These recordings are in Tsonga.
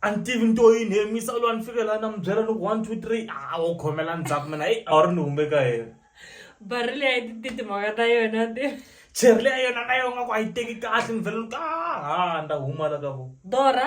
a ni tivi ni to yini he misa lowa ni fikela na mi byela ni ku one two three a wo khomela ndzhaku mina i a wu ri ni humbe ka yena bari leyi a yi ti timhaka ta yona ti cheri leya yona na yona ku a yi teki kahle ni vhele ni ku a ha nda huma la ka vo dora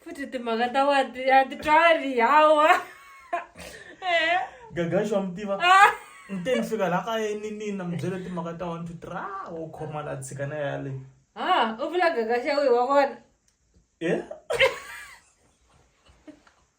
futhi timhaka ta wadi a ti twali hawa eh. gagaxi wa mi tiva ah. nte ni fika la kaya ni nina mi byele timhaka ta one two three a ah, wo khoma la tshika na yale ha u vula gagaxa wihi wa vona e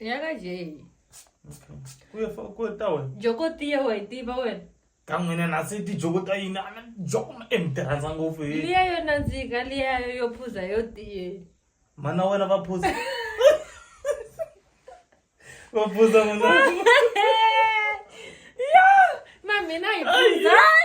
Yakajei. Kuya fa ku ta wena. Joko tiya wa itiva wena. Ka n'wina na se ti joko ta yini ana joko ma emtirhandza ngopfu hi. Liya yo nandzika liya yo phuza yo tiye. Mana wena va phuza. Va phuza mana. Yo, ma mina hi phuza. Ai.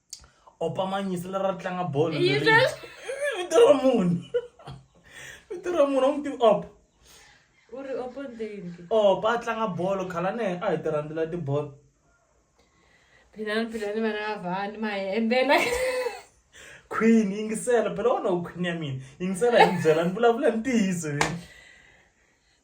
opa manyisa leri ra tlanga bolo vito ra munhu vito ra munhu a n'wi tivi opa u ri opa ndeni opa a tlanga bolo khalane a hi ti rhandzela tibolo philani philani vana va vani ma hi embela queen yingisela phela wona u queen ya mina yingisela hi ni byela ni vulavula ntiyiso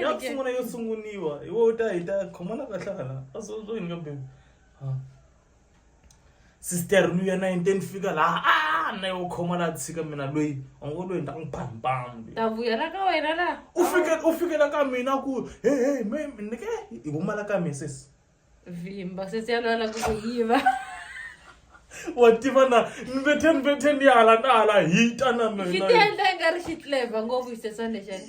yakusungula yo sunguniwa iwe u ta hita khomana kahlala a swo swo yini ka bebe sister luya na yini te ni fika laha a ah, na yo khoma laha tshika mina loyi u ngo loyi ni ta n'wi bambam ta vuyela ka wena laha u fike u fikela ka mina ku he he me ni ke i humala ka mina sesi vimba sesi ya lwala ku ku yiva wa tiva na ni vethe ni vethe ni hala na hala hita na mina xi ti endla i nga ri xi tleva ngopfu xisesana lexani